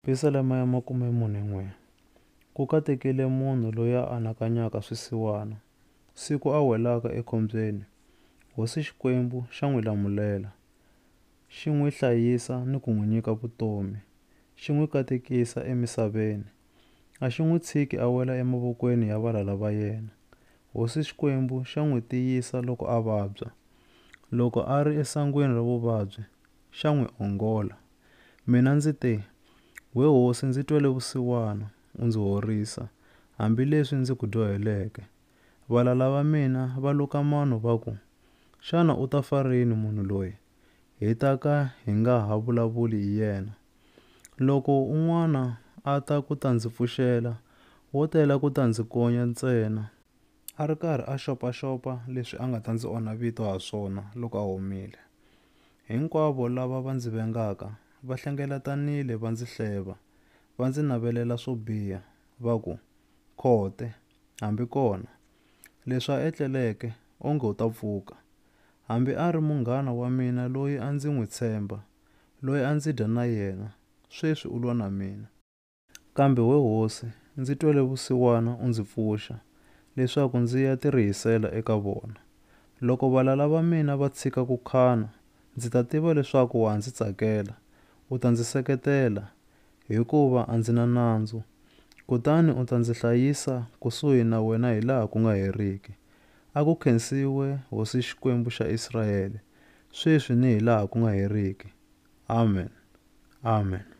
Pisalema ya makume mune n'we, Ku katekile munhu loyi a anakanyaka swisiwana. Siku a welaka ekhombyeni, Hosi Xikwembu xa n'wi lamulela, xi n'wi hlayisa ni ku n'wi nyika vutomi, xi n'wi katekisa emisaveni. A xi n'wi tshiki a wela emavokweni ya valala va yena. Hosi Xikwembu xa n'wi tiyisa loko a vabya. Loko a ri esangwini ra vuvabyi, xa n'wi ongola. Mina ndzi te, We hosi, ndzi twele vusiwana, u ndzi horisa, hambileswi ndzi ku dyoheleke. Valala va mina va luka mano va ku, Xana u ta fa rini munhu loyi, hi ta ka hi nga ha vulavuli hi yena? Loko un'wana a ta ku ta ndzi pfuxela, wo tela ku ta ndzi konya ntsena. A ri karhi a xopaxopa leswi a nga ta ndzi onha vito ha swona loko a humile. Hinkwavo lava va ndzi vengaka va hlengeletanile va ndzi hleva, va ndzi navelela swo biha, va ku, Khote! Hambi kona, leswi a etleleke, onge u ta pfuka. Hambi a ri munghana wa mina loyi a ndzi n'wi tshemba, loyi a ndzi dya na yena, sweswi u lwa na mina. Kambe, we hosi, ndzi twele vusiwana u ndzi pfuxa, leswaku ndzi ya tirihisela eka vona. Loko valala va mina va tshika ku khana, ndzi ta tiva leswaku wa ha ndzi tsakela, u ta ndzi seketela, hikuva a ndzi na nandzu. Kutani u ta ndzi hlayisa kusuhi na wena hilaha ku nga heriki. A ku khensiwe hosi Xikwembu xa Israele, sweswi ni hilaha ku nga heriki. Amen. Amen.